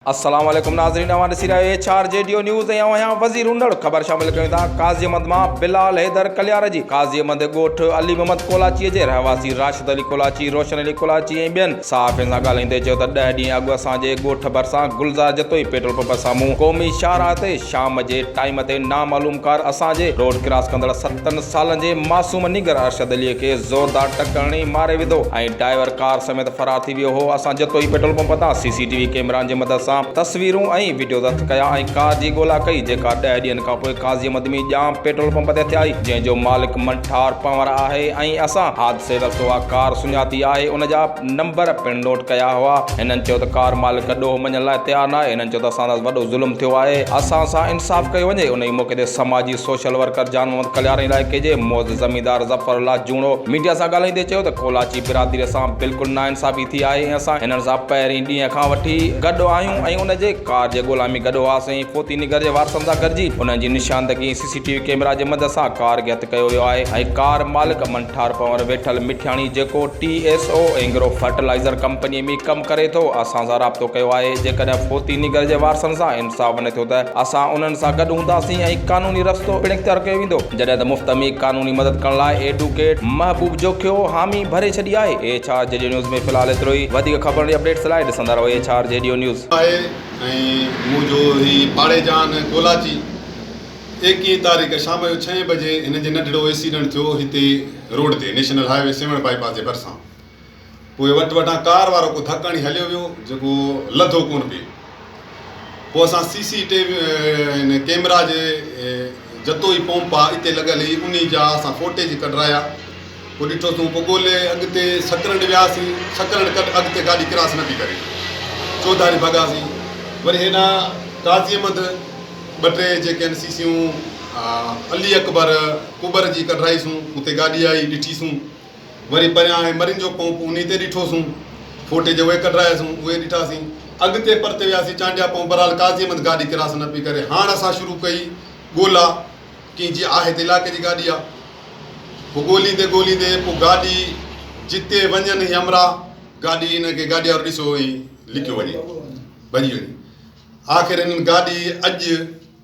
السلام عليڪم ناظرين اوهان ڏسي رهيا آهيو ايڇ آر جي ڊيو نيوز ۽ اوهان آهيان وزير اونڙ خبر شامل ڪيون ٿا قاضيمند مان بلال حيدر ڪليار جي قاضيمند ڳوٺ علي محمد ڪولاچي جي رهواسي راشد علي ڪولاچي روشن علي ڪولاچي ۽ ٻين صحافين سان ڳالهائيندي چيو ته ڏهه ڏينهن اڳ اسان جي ڳوٺ ڀرسان گلزار جتوئي پيٽرول پمپ سامهون قومي شاهراهه تي شام جي ٽائيم تي نامعلوم ڪار اسان جي روڊ ڪراس ڪندڙ ستن سالن جي معصوم نينگر ارشد علي کي زوردار ٽڪ هڻي ماري وڌو ۽ ڊائيور ڪار سميت فرار ٿي ويو هو، اسان جتوئي پيٽرول پمپ تان سي سي ٽي وي ڪيمرائن جي مدد سان تصويرون ۽ وڊيو ضبط ڪيا ۽ ڪار جي ڳولا ڪئي جيڪا ڏهه ڏينهن کانپوء قاضي مدمي ڄام پيٽرول پمپ تي ٿيائي جنهن جو مالڪ منٺار پنور آهي ۽ اسان حادثي وقت اها ڪار سڃاتي آهي ان جا نمبر پڻ نوٽ ڪيا هئا هنن چيو ته ڪار مالڪ ڏوهه مڃڻ لاء تيار ناهي هنن چيو ته اسان سان وڏو ظلم ٿيو آهي اسان سان انصاف ڪيو وڃي انهي موقعي تي سماجي سوشل ورڪر جان محمد ڪليارن علائقي جي معزز زميندار ظفر الله جوڻو ميڊيا سان ڳالهائيندي چيو ته ڪولاچي برادري سان بلڪل ناانصافي ٿي آهي ۽ اسان هنن سان پهرين ڏينهن کان وٺي گڏ آهيون ۽ ان جي ڪار جي ڳولا ۾ گڏ هئاسين فوتي نگر جي وارثن سان گڏجي انهن جي نشاندگي C C T V camera جي مدد سان ڪار کي هٿ ڪيو ويو آهي ۽ ڪار مالڪ امن ٺار پنور ويٺل مٺياڻي جيڪو T S O Engro fertilizer company ۾ ڪم ڪري ٿو اسان سان رابطو ڪيو آهي جيڪڏهن فوتي نگر جي وارثن سان انصاف نه ٿيو ته اسان انهن سان گڏ هونداسين ۽ قانوني رستو پڻ اختيار ڪيو ويندو. جڏهن ته مفت ۾ قانوني مدد ڪرڻ لاء ايڊوڪيٽ محبوب جوکيو حامي ڀري ڇڏي آهي ايڇ آر جي ڊيو نيوز ۾ في الحال ايترو ئي وڌيڪ خبرن ۽ اپڊيٽس لاء ڏسندا رهو ايڇ آر جي ڊيو نيوز. آهي ۽ مون جو هي پاڙي جان ڪولاچي ايڪيهن تاريخ شام جو ڇهين بجي هن جي ننڍڙو ايڪسيڊنٽ ٿيو هتي روڊ تي national highway Sehwan bypass جي ڀرسان پوء وٽ وٽان ڪار وارو ڪو ڌڪ هڻي هليو ويو جيڪو لڌو ڪونه پئي. پوء اسان C C T V camera جي جتوئي پومپ آ اتي لڳل هئي انهي جا اسان فوٽيج ڪڍرايا پوء ڏٺوسون پوء ڳولي اڳتي سڪرنڊ وياسين سڪرنڊ ڪڍ اڳتي گاڏي ڪراس نه پئي ڪري چوڌاري ڀڳاسين وري هيڏانهن قاضي احمد ٻه ٽي جيڪي آهن سي سيون علي اڪبر ڪٻر جي ڪڍرائيسون اتي گاڏي آئي ڏٺيسون وري پريان هاڻي مرين جو پونپ انهي تي ڏٺوسون. ڦوٽي جي اهي ڪڍراياسون، اهي ڏٺاسين. اڳتي پرتي وياسين چانڊيا پون برحال قاضي احمد گاڏي ڪراس نه پئي ڪري. هاڻ اسان شروع ڪئي ڳولا ڪئين جي آهي ته علائقي جي گاڏي آ. پوء ڳوليندي ڳوليندي پوء گاڏي جتي وڃن هي امرا گاڏي انهن کي گاڏي وارو ڏسيو ۽ لڪيو وڃي ڀڄي وڃي. آخر هنن گاڏي اڄ.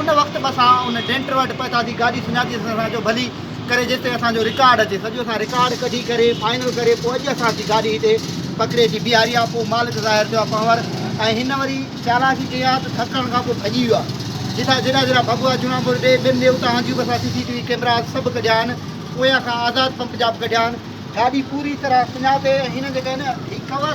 ان وقت به اسان ان ڊينٽر وٽ پهتا ٿي گاڏي سڃاتي اسان سان چيو ڀلي ڪري جيستائين اسان جو رڪارڊ اچي سڄو اسان رڪارڊ ڪڍي ڪري فائنل ڪري پوء اڄ اسان جي گاڏي هتي پڪڙي اچي بيهاري آ پوء مالڪ ظاهر ٿيو آ پنهور ۽ هن وري چالاڪي ڪئي آ ته ٿڪڻ کان پوء ڀڄي ويو آ جتان جيڏا جيڏا ڀڳوا جوڻاپور ڏي ٻين ڏي اتان جون به اسان C C T V cameras سڀ ڪڍيا آهن اويان کان آزاد پمپ جا به ڪڍيا آهن گاڏي پوري طرح سڃاتي ۽ هن جيڪا هي نه هي ڪور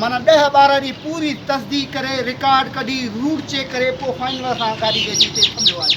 معنيٰ ڏهه ٻارهن ڏينهن پوري تصديق ڪري رڪارڊ ڪڍي روٽ چيڪ ڪري پوء فائنل اسان گاڏي کي اچي اتي ٿنڀيو آهي.